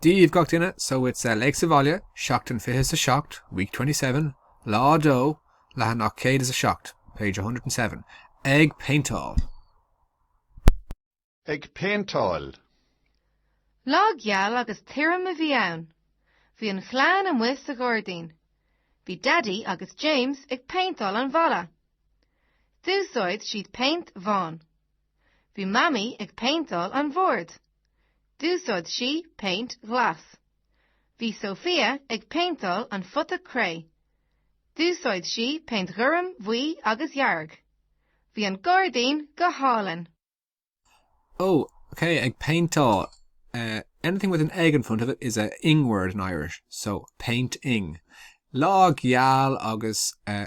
Dia daoibh gach duine, so it's a Léigh sa Bhaile, Seachtain 27, Week 27, Lá 2, Leathanach 107, Page 107, Ag péinteáil. Ag péinteáil. Lá geal agus tirim a bhí ann. Bhí an chlann amuigh sa ghairdín. Bhí Daidí agus James ag péinteáil an bhalla. D'úsáid siad péint bhán. Bhí Mamaí ag péinteáil an bhoird. D'úsáid sí péint ghlas. Bhí Sofia ag péinteáil an phota cré. D'úsáid sí péint ghorm, bhuí agus dhearg. Bhí an gairdín go hálainn. Ó, ok, ag péinteáil. Anything with an ag in front of it is a ing word in Irish, so péint-ing. Lá geal agus eh,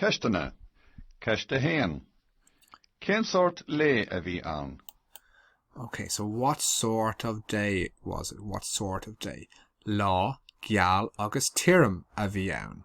Ceisteanna, Ceist 1. Cén sórt lae a bhí ann? Okay, so what sort of day was it? What sort of day? Lá geal agus tirim a bhí ann.